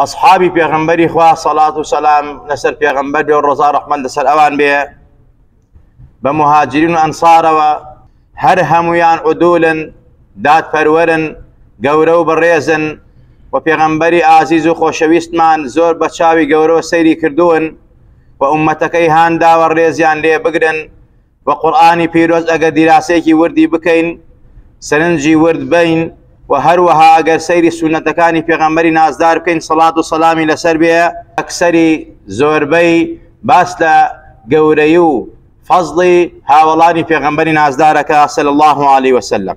ئەسحابی پێغەمبەری خوا سەڵات و سەلام لەسەر پێغەمبەر بێ و ڕزا ڕەحمان لەسەر ئەوان بێ بە مهاجرین و ئەنسارەوە هەر هەمویان عدولن دادپەروەرن گەورە و بەڕێزن و پێغەمبەری ئازیز و خۆشەویستمان زۆر بە چاوی گەورەوە سەیری کردوون و ئومەتەکەی هانداوە ڕێزیان لێ بگرن وە قورئانی پیرۆز ئەگەر دیراسەیەکی وردی بکەین سەرنجی ورد بەین وە هەروەها ئەگەر سەیری سونەتەکانی پێغەمبەری نازدار بکەین سەڵات و سەلامی لەسەر بێ ئەکسەری زۆربەی باس لە گەورەی و فەزڵی هاوەڵانی پێغەمبەری نازدارەکە صلی اللە علیە وسلم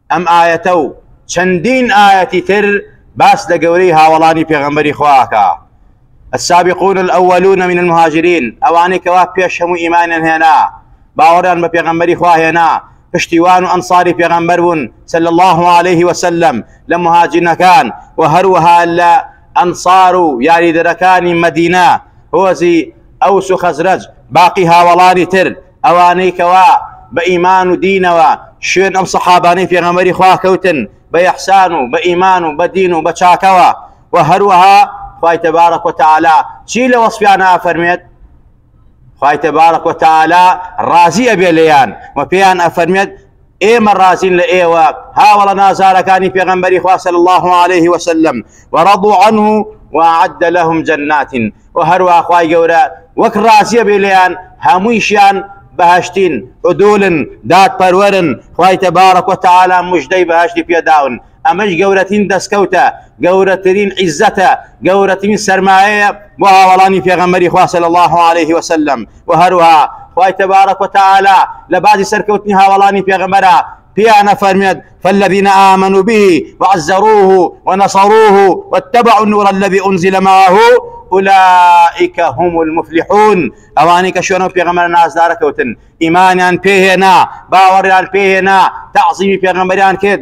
ئەم ئایەتە و چەندین ئایەتی تر باس لە گەورەی هاوەڵانی پێغەمبەری خوا ئەکا، السابقون الاولون من المهاجرین، ئەوانەی کەوا پێش هەموو ئیمانیان هێنا، باوەڕیان بە پێغەمبەری خوا هێنا، پشتیوان و ئەنساری پێغەمبەر بوون صلی اللە علیە وسلم لە مهاجرینەکان و هەروەها لە ئەنسار و یاریدەرەکانی مەدینە هۆزی ئەوس و خەزرەج، باقی هاوەڵانی تر ئەوانەی کەوا بە ئیمان و دینەوە شوێن ئەم سەحابانەی پێغەمەری خوا کەوتن بە یەحسان و بە ئیمان و بە دین و بە چاکەوە و هەروەها خی تەبارەک وتەعالا چی لە وەسپیانە ئەفەرمێت خی تەبارەک وتەعالا ڕازی ئەبێ لێیان و پێیان ئەفەرمێت ئێمە ڕازین لە ئێوە هاوەڵە نازارەکانی پێغەمبەری خوا صلی الله علیه و سلم و رضوا عنه وأعد لهم جنات و هەروە خوای گەورە وەک ڕازیە بێ لێیان هەموویشیان بەهشتین عدولن دادپەروەرن خوای تبارک و تعالی مژدەی بەهشتی پێداون ئەمەش گەورەترین دەستکەوتە، گەورەترین عیززەتە، گەورەترین سەرمایەیە بۆ هاوەڵانی پێغەمبەری خوا صلی اللە علیه وسلم، وە هەروەها خوای تبارک و تعالی لە باسی سەرکەوتنی هاوەڵانی پێغەمبەرا پێیان ئەفەرموێت فالذین آمنوا به وعزروه ونصروه واتبعوا النور الذی انزل معه اولئک هم المفلحون ئەوانەی کە شوێنە پێغەمبەر نازدارە کەوتن ئیمانیان پێهێنا باوەڕیان پێهێنا تعظیمی پێغەمبەریان کرد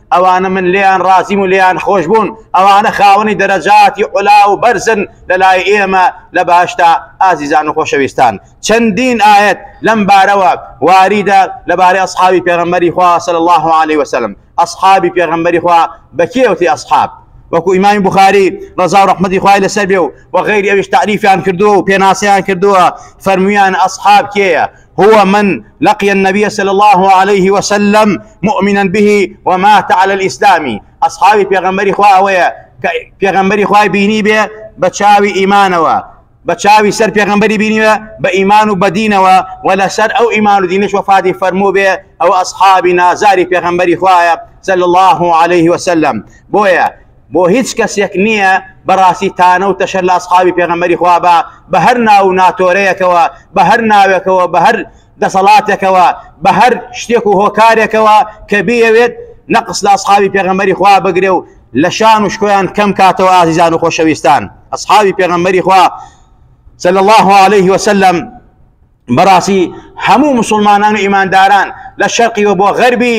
ئەوانە من لێیان ڕازیم و لێیان خۆش بوون، ئەوانە خاوەنی دەرەجاتی عولا و بەرزن لە لای ئێمە لە بەهەشتا. ئازیزان و خۆشەویستان، چەندین ئایەت لەم بارەوە واریدە لە بارەی ئەسحابی پێغەمبەری خوا صلی اللە علیە و سلم. ئەسحابی پێغەمبەری خوا بە کێ وتی ئەسحاب؟ وەکو ئیمامی بوخاری ڕەزا و ڕەحمەتی خوای لەسەر بێ و وەغەیری ئەویش تەعریفیان کردووە و پێناسەیان کردووە، فەرموویان ئەسحاب کێیە؟ هو من لقی النبی صلی اللە علیه وسلم مؤمنا به ومات علی الاسلام ئەصحابی پێغەمبەری خوا ئەوەیە کە پێغەمبەری خوای بینی بێ بە چاوی ئیمانەوە بە چاوی سەر پێغمبەری بینیوە بە ئیمان و بەدینەوە و لەسەر ئەو ئیمان و دینش وفادی فەرموو بێ ئەو ئەسحابی نازاری پێغمبەری خوایە سەل الله عليه وسلم بۆیە بۆ هیچ کەسێک نییە بەڕاستی تانە و تەشەر لە ئەسحابی پێغەمبەری خوا بە بە هەر ناو و ناتۆرەیەکەوە بە هەر ناوێکەوە بە هەر دەسەڵاتێکەوە بە هەر شتێک و هۆکارێکەوە کە بیەوێت نەقص لە ئەسحابی پێغەمبەری خوا بگرێ و لە شان و شکۆیان کەم کاتەوە ئازیزان و خۆشەویستان ئەسحابی پێغەمبەری خوا صلى الله عليه وسلم بەڕاستی هەموو مسلمانان و ئیمانداران لە شەرقیوە بۆ غەربی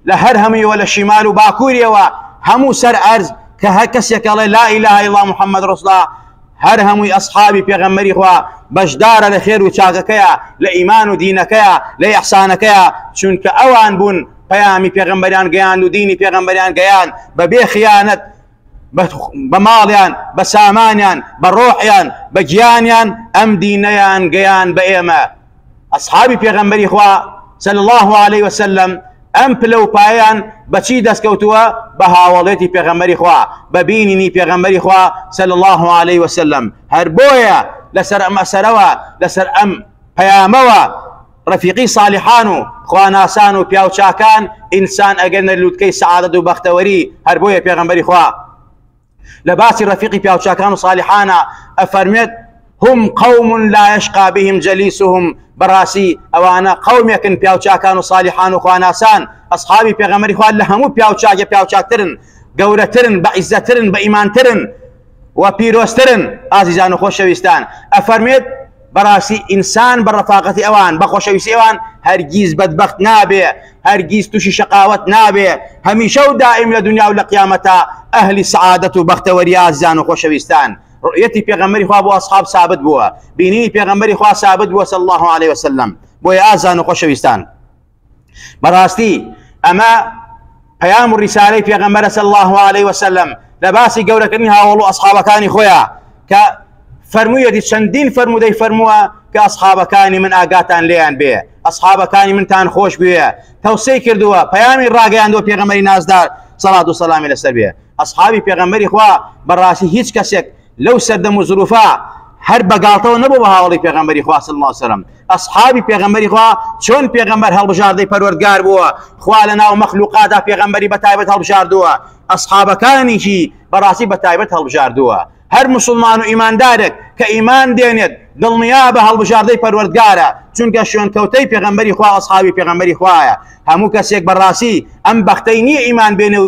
لە هەر هەموویەوە لە شیمال و باکووریەوە هەموو سەر ئەرز کە هەر کەسێکەڵێ لا ئیلا ئیلا محەممەد ڕستا هەر هەمووی ئەسحابی پێغەمەری خوا بەشدارە لە خێر و چاکەکەیە لە ئیمان و دینەکەیە لە یەحسانەکەیە چونکە ئەوان بوون پەیامی پێغمبەریان گەیان و دینی پێغمبەریان گەیان بەبێ خیانەت بە ماڵیان بە سامانیان بە ڕۆحیان بە گیانیان ئەم دینەیان گەیان بە ئێمە ئەسحابی پێغەمبەری خوا صلی الله عليه وسلم ئەم پلە و پایان بەچی دەستکەوتووە بە هاوڵێتی پێغەمبەری خوا بە بینینی پێغەمبەری خوا صلی الله عليه وسلم هەر بۆیە لەسەر ئەم ئەسەرەوە لەسەر ئەم پەیامەوە ڕەفیقی ساڵحان و خواناسان و پیاوچاکان ئینسان ئەگەنە لوتکەی سەعادەت و بەختەوەری هەر بۆیە پێغەمبەری خوا لە باسی ڕەفیقی پیاوچاکان و ساڵحانە ئەفەرمێت هم قوم لا يشقى بهم جليسهم بەڕاستی ئەوانە قومێکن پیاوچاکان و سالیحان و خواناسان ئەسحابی پێغەمەری خوارد لە هەموو پیاوچاگە پیاوچاکترن گەورەترن بە عیزەترن بە ئیمانترن و پیرۆسترن ئازیزان و خۆشەویستان ئەفەرمێت بەڕاستی ئینسان بە ڕەفاقەتی ئەوان بە خۆشەویستی ئەوان هەرگیز بەدبەخت نابێ هەرگیز تووشی شەقاوەت نابێ هەمیشە و دائیم لە دنیا و لە قیامەتا ئەهلی سەعادەت و بەختەوەری ئازیزان و خۆشەویستان ڕؤیەتی پێغەمبەری خوا بۆ ئەسحاب سابت بووە بینینی پێغەمبەری خوا سابت بووە صلی الله علیه وسلم بۆیە ئازان و خۆشەویستان بەڕاستی ئەمە پەیام و ڕیسالەی پێغەمبەرە صلی الله علیه وسلم لە باسی گەورەکردنی هاوڵ و ئەسحابەکانی خۆیان کە فەرموویەتی چەندین فەرمودەی فەرمووە کە ئەسحابەکانی من ئاگاتان لێیان بێ ئەسحابەکانی منتان خۆش بوێ تەوسەی کردووە پەیامی ڕاگەیاندوە پێغەمەری نازدار سەڵات و سەلامی لەسەر بێ ئەسحابی پێغەمبەری خوا بەڕاستی هیچ کەسێک لەو سەردەم و زروفا هەر بەگاڵتەوە نەبوو بە هاوڵی پێغەمبەری خوا صلی الله سەرم ئەصحابی پێغەمبەری خوا چۆن پێغەمبەر هەڵبژاردەی پەروەردگار بووە خوا لە ناو مەخلوقادا پێغەمبەری بە تایبەت هەڵبژاردووە ئەصحابەکانیشی بەڕاستی بە تایبەت هەڵبژاردووە هەر مسلمان و ئیماندارێک کە ئیمان دێنێت دڵنیا بە هەڵبژاردەی پەروەردگارە چونکە شوێنکەوتەی پێغەمبەری خوا ئەصحابی پێغەمبەری خوایە هەموو کەسێک بەڕاستی ئەم بەختەی نییە ئیمان بێنێ و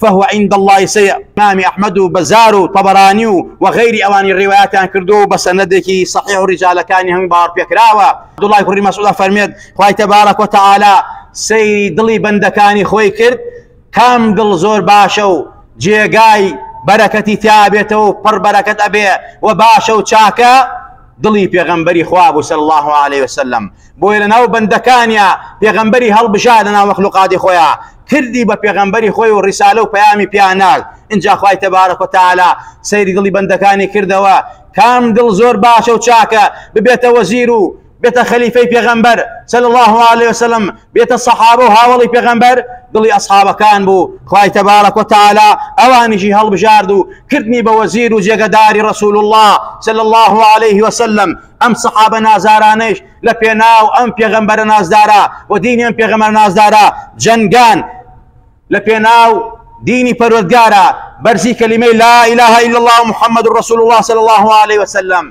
فهو عند اللە سەی امام احمد و بزار و طبرانی و وغیری ئەوانی ڕیوایەتیان کردو و بە سەنەدێکی صحیح و ڕیجالەکانی هەمووی باوەڕ پێکراوە عبداللە کوڕی مسعود ئەفەرمێت خوای تبارک و تعالی سەیری دڵی بەندەکانی خۆی کرد کام دڵ زۆر باشە و جێگای بەرەکەتی تیابێتەوە و پڕ بەرەکەت ئەبێ و باشە و چاکە دڵی پێغەمبەری خوا بوو سەر الله عليه وسلم بۆیە لە ناو بەندەکانیا پێغەمبەری هەڵبژا لە ناو مەخلوقاتی خۆیان کردی بە پێغەمبەری خۆی و ڕیسالە و پەیامی پیا نارد ئینجا خوای تەبارەک و تەعالا سەیری دڵی بەندەکانی کردەوە کام دڵ زۆر باشە و چاکە ببێتە وەزیر و بێتە خەلیفەی پێغەمبەر صلی الله علیه وسلم بێتە سەحابە و هاوڵی پێغەمبەر دڵی ئەسحابەکان بوو خوای تەبارەک و تەعالا ئەوانیشی هەڵبژارد و کردنی بە وەزیر و جێگەداری رسول الله صلی الله علیه وسلم ئەم سەحابە نازارانەیش لە پێناو ئەم پێغەمبەرە نازدارە و دینی ئەم پێغەمە نازدارە جەنگان لە پێناو دینی پەرۆزگارە بەرزی کەلیمەی لا إله إلا الله محمد رسول الله صلى الله عليه وسلم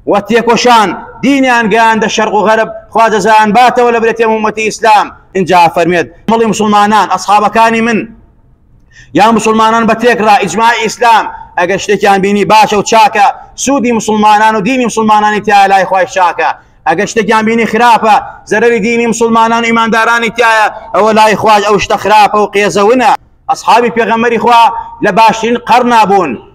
و تێکۆشان دینیان گەیاندە شەرق و غەرب خوا دەزان باتەوە لە برێتێ ومەتی ئیسلام اینجا فەرمێت مەڵی مسلمانان ئەسحابەکانی من یا مسلمانان بە تێکڕا ئیجماع ئیسلام ئەگەر شتێکیان بینی باشە و چاکە سوودی مسلمانان و دینی مسلمانانی تیا لای خۆی چاکە ئەگەر شتێکیان بینی خراپە زەرری دینی مسلمانان و ئیماندارانی تایە ئەوە لای خواج ئەو شتە خراپە و قێزەونە ئەسحابی پێغەمەری خوا لە باشترین قەرنا بوون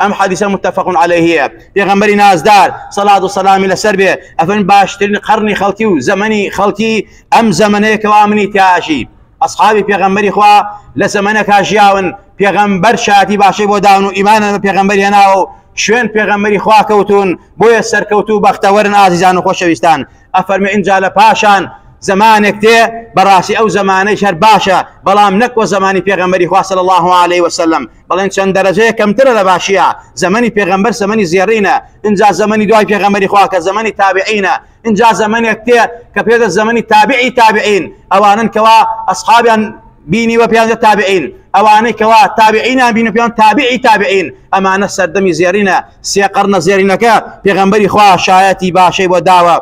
ئەم حەدیسە متفق علیهیە پێغەمبەری نازدار سەلات و سەلامی لەسەر بێ ئەفەن باشترین قەرنی خەڵکی و زەمەنی خەڵکی ئەم زەمنەیە کەوا منی تیاژی ئەسحابی پێغەمبەری خوا لە زەمەنەکە ژیاون پێغەمبەر شاتی باشەی بۆ داون و ئیمانە بە پێغەمبەری هێناوە و شوێن پێغەمبەری خوا کەوتون بۆیە سەرکەوت و بەختەوەرن ئازیزان و خۆشەویستان ئەفەرمە ئینجا لە پاشان زمانێک دێ بەڕاستی ئەو زمانەی شەر باشە بەڵام نەکوە زمانی پێغەمبەری خوا صلی الله علیه وسلم بەڵێن چەند دەرەجەیە کەمترە لە باشیە زەمەنی پێغەمبەر زەمەنی زێڕینە اینجا زەمەنی دوای پێغەمەری خواکە زەمەنی تابعینە اینجا زەمەنێک تێ کە پێدە زەمەنی تابعی تابعین ئەوانن کەوا ئەسحابیان بینی وە پیانە تابعین ئەوانەی کەوا تابعینا بین و پیان تابعی تابعین ئەمانە سەردەمی زێرینە سێقڕنە زێرینەکە پێغەمبەری خوا شایەتی باشەی بۆ داوە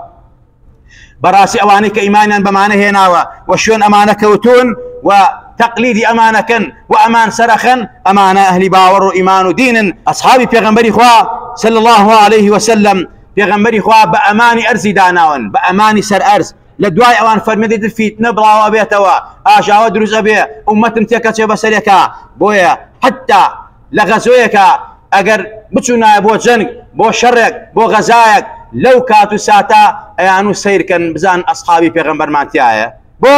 بەڕاستی ئەوانەی کە ئیمانیان بەمانە هێناوە و شوێن ئەمانە کەوتون و تەقلیدی ئەمانەکەن و ئەمان سەرەخەن ئەمانە ئەهلی باوەڕ و ئیمان و دینن ئەسحابی پێغمبەری خوا صلى الله عليه وسلم پێغمبەری خوا بە ئەمانی ئەرزی داناون بە ئەمانی سەر ئەرز لە دوای ئەوان فەرمێدی فیتنە بڵاوە بێتەوە ئاژاوە دروزە بێ عومەتم تێکەچێ بەسەرێکە بۆیە حتا لە غەزۆیەکا ئەگەر بچونایە بۆ جەنگ بۆ شەڕێک بۆ غەزایەک لەو کات و ساتە ئەیانو سەیر کەن بزان ئەسحابی پێغەمبەرمان تیایە بۆ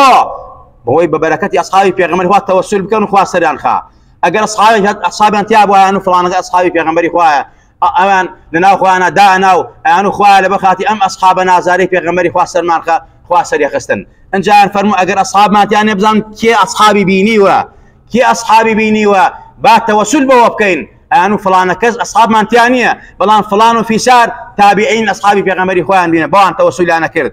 بەوەی بە بەرەکەتی ئەسحابی پێغەمبەر خوا تەوەسول بکەن خوا سەریان خا ئەگەر ئەسحابی ئەسحابیان تیا بوایانو فڵانەکە ئەسحابی پێغەمبەری خوایە ئەویان لەناو خۆیانا دانا و ئەیانو خوایە لەبەر خاتری ئەم ئەسحابە نازارەی پێغەمبەری خوا سەرمانخە خوا سەریەخستن ئەنجایان فەرموو ئەگەر ئەسحابمان تیانێ بزان کێ ئەسحابی بینیوە کێ ئەسحابی بینیوە با تەوەسول بەوە بکەین ئەیانو فلانە کەس ئەسحابمان تیا نییە بەڵام فلان و فیسار تابعین ئەسحابی پێغەمبەری خۆیان بینە بەوان تەوەسولیانە کرد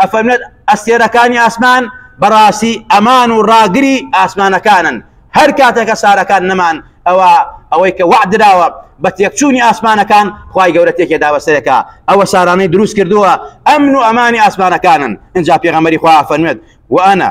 ئەفەرمێت، ئەستێرەکانی ئاسمان بەڕاستی ئەمان و ڕاگری ئاسمانەکانن، هەر کاتێک کە سارەکان نەمان ئەوا ئەوەی کە وەعد دراوە بە تێکچوونی ئاسمانەکان خوای گەورە تێکێ داوە سەرێکا ئەوە سارانەی دروست کردووە ئەمن و ئەمانی ئاسمانەکانن ئینجا پێغەمبەری خوا ئەفەرموێت وەئەنە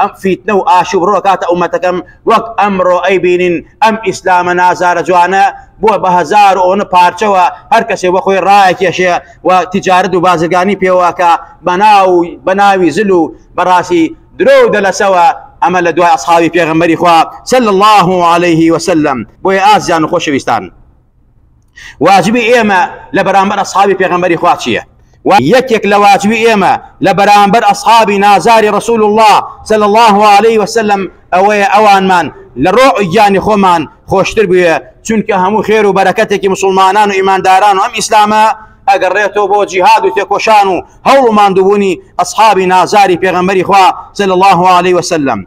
ئەم فیتنە و ئاشوب ڕۆکاتە ئومەتەکەم وەک ئەمرۆ ئەی بینین ئەم ئیسلامە نازارە جوانە بوە بە هەزار و ئۆن پارچەوە هەر کەسێ بۆ خۆی ڕایەکێشێ و تیجارەت و بازرگانی پێوە کە بەناو و بەناوی زل و بەڕاسی درۆ و دەلەسەوە ئەمە لە دوای ئەسحابی پێغەمبەری خوا صلی اللە علیه وسلم بۆیە ئازیزان و خۆشەویستان. واجبی ئێمە لە بەرامبەر ئەسحابی پێغەمبەری خوا چییە و یەکێک لە واجبی ئێمە لە بەرامبەر ئەسحابی نازاری ڕسول الله صلی الله عليه وسلم ئەوەیە ئەوانمان لە ڕۆ گیانی خۆمان خۆشتر بوێ چونکە هەموو خێر و بەرەکەتێکی مسلمانان و ئیمانداران و ئەم ئیسلامە ئەگەر ڕێتەوە بۆ جیهاد و تێکۆشان و هەوڵ و ماندووبوونی ئەسحابی نازاری پێغەمبەری خوا صلی الله عليه وسلم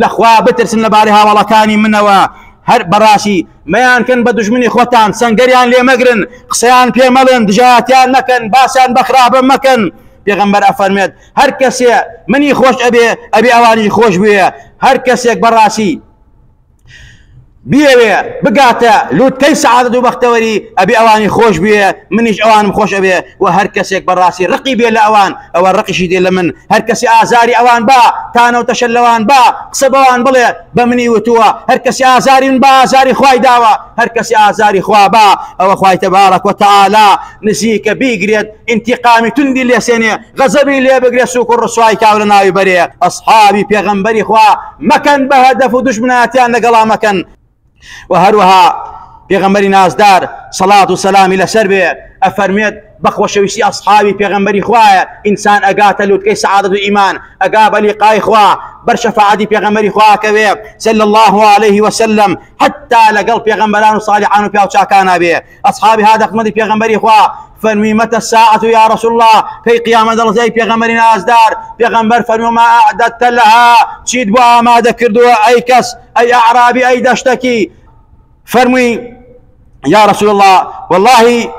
لە خوا بترسن لە بارەی هاواڵەکانی منەوە هەر بەڕاشی مەیان کەن بە دژمنی خۆتان سەنگەریان لێ مەگرن قسەیان پێ مەڵێن دژایەتیان مەکەن باسیان بە خراپە مەکەن پێغەمبەر ئەفەرمێت هەر کەسێ منی خۆش ئەبێ ئەبێ ئەوانی خۆش بوێ هەر کەسێک بەڕاستی بیەوێ بگاتە لوتکەی سەعادەت و بەختەوەری ئەبێ ئەوانی خۆش بوێ منیش ئەوانم خۆش ئەوێ وە هەر کەسێک بەڕاستی ڕقی بێ لە ئەوان ئەوە ڕقیشی دێ لە من هەر کەسی ئازاری ئەوان با تانەوتەشە لەوان با قسە بەوان بڵێ بە منی وتووە هەر کەسی ئازاری من با ئازاری خوای داوە هەر کەسی ئازاری خوا با ئەوە خوای تەبارەک وە تەعالا نزیکە بیگرێت ئینتیقامی توندی لێ سێنێ غەزەبی لێ بگرێ سوک و ڕسوای کاو لە ناوی بەرێ ئەسحابی پێغەمبەری خوا مەکەن بە هەدەف و دوژمناتیان لەگەڵا مەکەن و هەروەها پێغەمبەری نازدار سەڵات و سەلامی لەسەر بێ ئەفەرمێت بەخۆشەویستی ئەسحاوی پێغمبەری خوایە ئینسان ئەگاتە لوتکەی سعادت و ئیمان ئەگا بەلی قای خوا بەر شەفاعدی پێغمبەری خواکەوێ سل الله عليه وسلم حتا لەگەڵ پێغمبەران و سالیحان و پیاوچکانە بێ ئەسحابی هات ئەخمەدی پێغەمبەری خوا فەرمی مەتە ساعەت یا رسول الله کەی قیامەت دەڵێت ئەی پێغەمبەری نازدار پێغەمبەر فەرمی ما اعددت لها چیت بۆ ئامادە کردووە ئەی کەس ئەی اعرابی ئەی دەشتەکی فەرمووی یا رسول الله واللهی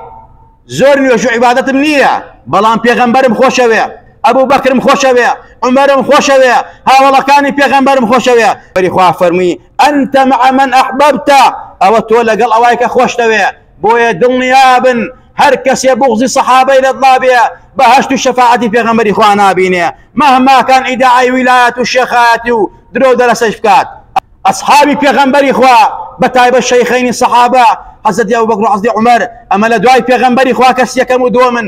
زۆر نوێژ و عیبادەتم نییە بەڵام پێغەمبەرم خۆشەوێ ئەبوو بەکرم خۆشەوێ عمرم خۆشەوێ هاوڵەکانی پێغەمبەرم خۆشەوێ بەری خوا فەرمووی انت مع من احببت ئەوە تۆ لەگەڵ ئەوای کە خۆشتەوێ بۆیە دڵنیابن هەر کەسێ بوغزی سەحابەی لە دڵابێ بەهشت و شەفاعەتی پێغەمبەری خوا نابینێ مهما کان ئیدعای ویلایەت و شێخایەتی و درۆ دەرەسەش بکات ئەصحابی پێغەمبەری خوا بە تایبەت شەیخەینی سەحابە حەزەتی ئەبوبەکر و حەزەتی عومەر ئەمە لە دوای پێغەمبەری خوا کەسیەکەم و دووەمن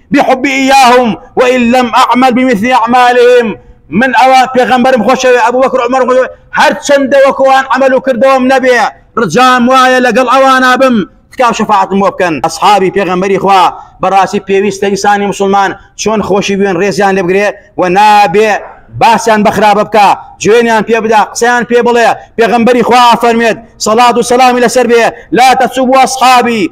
بحبی ایاهم وان لم اعمل بمثل اعمالهم من ئەوە پێغەمبەرم خۆشەوێ ئەبو بەکر عمر خۆش هەر چەندە وەکو ئەوان عمل و کردەوەم نەبێ ڕجام وایە لەگەڵ ئەوانا بم تکاو شەفاعەتم بۆ بکەن ئەصحابی پێغەمبەری خوا بەڕاستی پێویستە ئینسانی مسلمان چۆن خۆشی بوێن ڕێزیان لێ بگرێ و نابێ باسیان بەخراپە بکە جوێنیان پێ بدا قسەیان پێ بڵێ پێغەمبەری خوا فەرمێت سەڵات و سەلامی لەسەر بێ لا تەسوب و ئەصحابی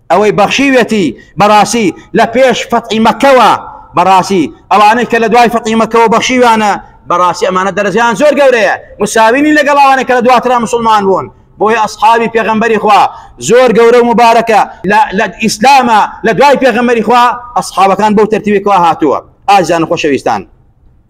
ئەوەی بەخشیوێتی بەڕاسی لە پێش فەتحی مەکەوە بەڕاسی ئەوانەی کە لە دوای فەتحی مەکەوە بەخشیویانە بەڕاسی ئەمانە دەرەجەیان زۆر گەورەیە مساوی نین لەگەڵ ئەوانەی کە لە دواترا مسوڵمان بوون بۆیە ئەسحابی پێغەمبەری خوا زۆر گەورە و مبارەکە لە ئیسلامە لە دوای پێغەمبەری خوا ئەسحابەکان بەو تەرتیبێکەوە هاتووە ئازیزان و خۆشەویستان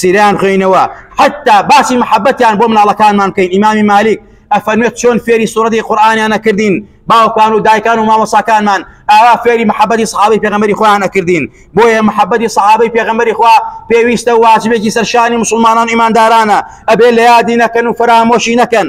سیرەیان خوێینەوە حەتا باسی محەبەتیان بۆ مناڵەکانمان بکەین ئیمامی مالیک ئەفەرمێت چۆن فێری سوورەتی قورآانیان نەکردین باوکان و دایکان و مامۆساکانمان ئاوا فێری محەبەتی سەحابەی پێغەمبەری خۆیان نەکردین بۆیە محەبەتی سەحابەی پێغەمبەری خوا پێویستە واجبێکی سەرشانی مسلمانان ئیماندارانە ئەبێ لە یادی نەکەن و فەرامۆشی نەکەن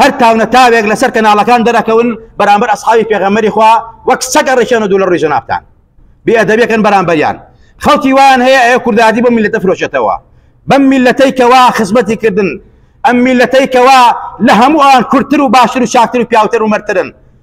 هەر تاو نە تاوێک لەسەر کەناڵەکان دەرەکەون بەرامبەر ئەسحابی پێغەمبەری خوا وەک سەگ ئەڕیشێن و دوو لە ڕووی جەنابتان بێئەدەبیەکەن بەرامبەریان خەڵکی وایان هەیە ئەوێ کوردایەتی بۆ میلەتە فرۆشێتەوە بەم میلەتەی کەوا خزمەتی کردن ئەم میلەتەی کەوا لە هەموو ئەوان کورتتر و باشتر و چاکتر و پیاوتر و مەرترن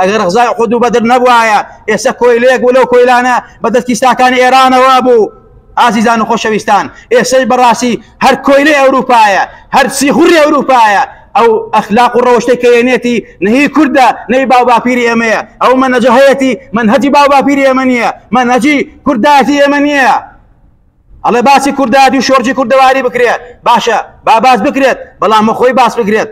ئەگەر غزای خود و بەدر نەبوایە ئێستا کۆیلەیەک و لەو کۆیلانە بە دەست کیساکانی ئێرانەوە بوو ئازیزان و خۆشەویستان ئێسەی بەڕاستی هەر کۆیلەی ئەوروپایە هەر سیخوری ئەوروپایە ئەو ئەخلاق و ڕەوشتەی کەێنێتی نهی کوردە نەی باو باپیری ئێمەیە ئەو منەجە هەیەی منهجی باو باپیری ئێمە نییە منهجی کورداتی ئێمە نییە ئەڵێ باسی کوردادی و شۆرجی کوردەواری بکرێت باشە با باس بکرێت بەڵام خۆی باس بکرێت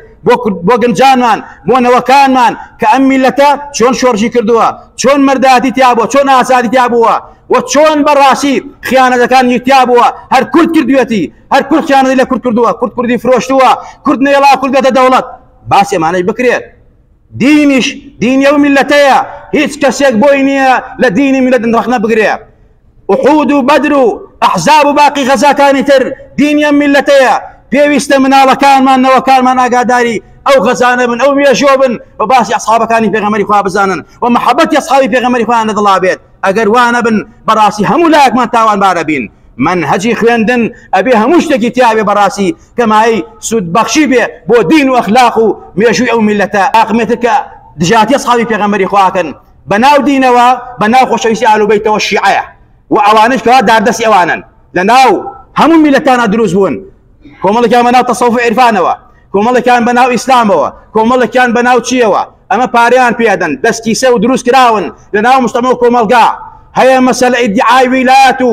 بۆ گەنجانمان بۆ نەوەکانمان کە ئەم میلەتە چۆن شۆرجی کردووە چۆن مرداتی تیابووە چۆن ئازادی تیابووە و چۆن بەڕاستی خیانەتەکان یتیا بووە هەر کورد کردوێتی هەر کورد خیانەتی لە کورد کردووە کورد کوردی فرۆشتووە کورد نێڵا کوردێتە دەوڵەت باس ئێمانەی بکرێت دینیش دینی ئەو میلەتەیە هیچ کەسێک بۆی نییە لە دینی میلەت ڕخنە بگرێت ئوحود و بەدر و ئەحزاب و باقی غەزاکانی تر دینی ئەم میللەتەیە پێویستە مناڵەکانمان نەوەکانمان ئاگاداری ئەو غەزانە بن ئەو مێژووە بن و باسی ئەسحابەکانی پێغەمەری خوا بزانن و محەبەتی ئەسحابی پێغەمەری خۆیان لە دڵا بێت ئەگەر وانە بن بەڕاستی هەموو لایەکمان تاوانبارە بین منهجی خوێندن ئەبێ هەموو شتێکی تیاێ بەڕاستی کەمایی سوودبەخشی بێ بۆ دین و ئەخلاق و مێژووی ئەو میلەتە ئاقمێتە کە دژاتی ئەسحابی پێغەمەری خواکەن بە ناو دینەوە بە ناو خۆشەویستی ئالوبەیتەوە شیعەیە و ئەوانش کەوا داردەسی ئەوانن لە ناو هەموو میلەتانە دروست بوون کۆمەڵێکیان بە ناو تەسەوف عرفانەوە کۆمەڵێکیان بە ناو ئیسلامەوە کۆمەڵێکیان بە ناو چیەوە ئەمە پاریان پێدەن دەستکیسە و دروست کراون لە ناو مستەمە و کۆمەلگا هەیە مەسەل ئیدعای ویلات و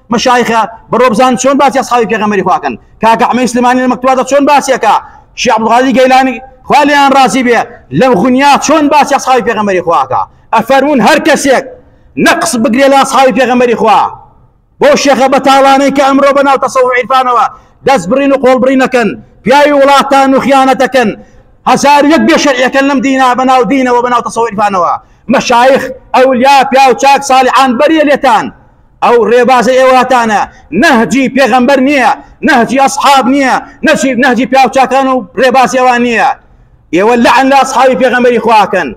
مەشایخە بەڕۆ بزان چۆن باسی ئەسحابی پێغەمبەری خوا کەن کاکە عمەی سلمانی لە مەکتوباتە چۆن باسیەکە شیخ عبدالقادر گەیلانی خوا لێیان ڕازی بێ لەم غنیا چۆن باسی ئەسحابی پێغەمبەری خواکە ئەفەرمون هەر کەسێک نەقص بگرێ لە ئەسحابی پێغەمبەری خوا بۆ شێخە بەتاڵانەی کە ئەمڕۆ بەناو تەسەو عیرفانەوە دەست بڕین و قۆڵ بڕی نەکەن پیاوی وڵاتان و خیانەتەکەن هەزار یەک بێ شەرعەکەن لەم دینا بەناو دینەوە بەناو تەسەو عیرفانەوە مەشایخ ئەولیا پیاو چاک ساڵحان بەریە لێتان ئەو ڕێبازەی ئێواتانە نەهجی پێغەمبەر نییە نەهجی ئەسحاب نییە نەچیر نەهجی پیاوچکان و ڕێبازی ئەوان نییە ئێوە لەعن لە ئەسحابی پێغەمبەری خواکەن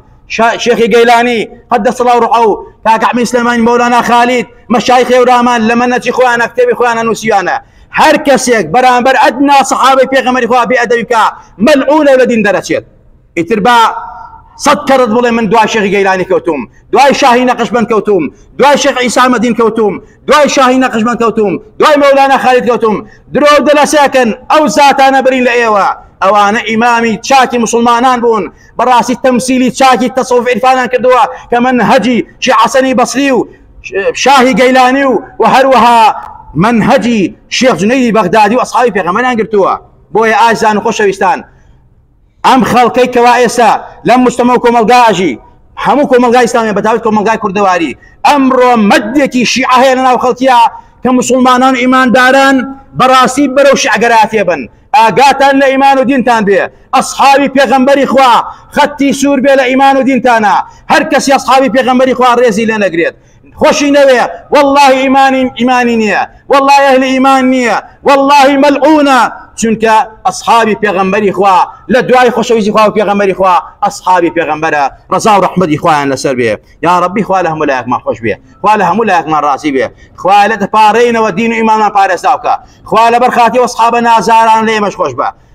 شێخی گەیلانی قەت دەسەڵا و ڕعە و کاکەحمی سلێمانی مەولانا خالید مەشای خێورامان لە منەتی خۆیانە کتێبی خۆیانە نووسیانە هەر کەسێک بەرامبەر ئەدنا سەحابەی پێغەمەری خوا بێ ئەدەویکە مەلعونە لە دین دەرەچێت ئیتر با سەد کەرت بڵێ من دوای شێخی گەیلانی کەوتوم دوای شاهی نەقشبەند کەوتوم دوای شێخ عیسامەدین کەوتوم دوای شاهی نەقشبەند کەوتوم دوای مەولانا خالد کەوتوم درۆ دەلەسەکەن ئەو زاتانە برین لە ئێوە ئەوانە ئیمامی چاکی مسلمانان بوون بەڕاستی تەمسیلی چاکی تەسەوف عیرفانان کردووە کە من هەجی شیعەسەنی بەسری و شاهی گەیلانی و و هەروەها منهجی شێخ جنەیدی بەغدادی و ئەسحابی پێغەمبەریان گرتووە بۆیە ئازان و خۆشەویستان ئەم خەڵکەی کەوا ئێستا لەم مشتەمە و کۆمەلگا ئەژی هەموو کۆمەلگا ئیسلامیە بەتاوت کۆمەلگای کوردەواری ئەمڕۆ مەدێکی شیعە هەیە لەناو خەڵکیە کە مسلمانان ئیمانداران بەڕاستی بەرەو شعگەراتێ بن ئاگاتان لە ئیمان و دینتان بێ ئەسحابی پێغەمبەری خوا خەتی سوور بێ لە ئیمان و دینتانە هەر کەسی ئەسحابی پێغەمبەری خوا ڕێزی لێ نەگرێت خۆشی نەوێ والله ئیمانی ئیمانی نییە والله ئەهلی ئیمان نییە والله مەلعونە چونکە ئەصحابی پێغەمبەری خوا لە دوای خۆشەویستی خوا و پێغەمبەری خوا ئەصحابی پێغەمبەرە ڕزا و ڕحمەدی خۆیان لەسەر بێ یا ڕبی خوا لە هەموو لایەکمان خۆش بێ خوا لە هەموو لایەکمان ڕازی بێ خوا لە دەپارڕینەوە دین و ئیمانمان پارێزاوکە خوا لەبەر خاتی وەصحابە نازاران لێمەش خۆش بە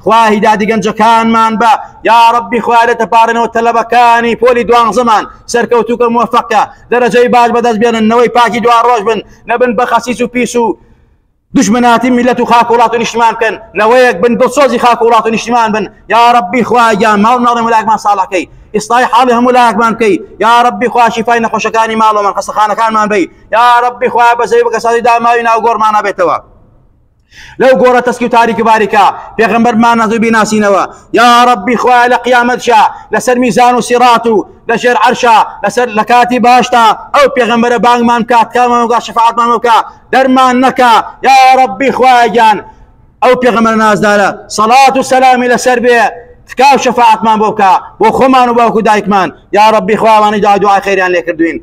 خوا هیدادی گەنجەکانمان بە یاڕەبی خوا لە تەپارنەوە تەلەبەکانی پۆلی دوانزەمان سەرکەوتوکە موفقە دەرەجەی باش بەدەست بێنن نەوەی پاکی دوا ڕۆژ بن نەبن بە خەسیس و پیس و دژمناتی میلەت و خاک وڵات و نیشتمان بکەن نەوەیەک بن دڵسۆزی خاک وڵات و نیشتمان بن یا ڕبی خواگیان ماڵ ناڵێ ملاکمان ساڵەکەی ئیسلای حاڵی هەموو لاکمان بکەی یا ڕبی خواشی فای نەخۆشەکانی ماڵەمان قەسەخانەکانمان بی یا ڕبی خوا بەزەی بەکەسانی داماوی ناوگۆڕمانە بێتەوە لەو گۆڕە تەسکی و تاریک باریکە پێغمبەر مانەزوی بیناسینەوە یا ڕبی خوای لە قیامەتشا لەسەر میزان و سیڕات و لەژێر عەرشا لەسەر لە کاتی باشتا ئەو پێغمبەرە بانگمان کات کامانگا شفاعتمان بکە دەرمان نەکە یا ڕبی خوایان ئەو پێغمبەر نازدارە سەڵات و سەلامی لەسەر بێ تکاو شەفاعتمان بۆ بکە بۆ خۆمان و باوکو دایکمان یا ڕبی خوامانی دا دوعای خێریان لێکردوین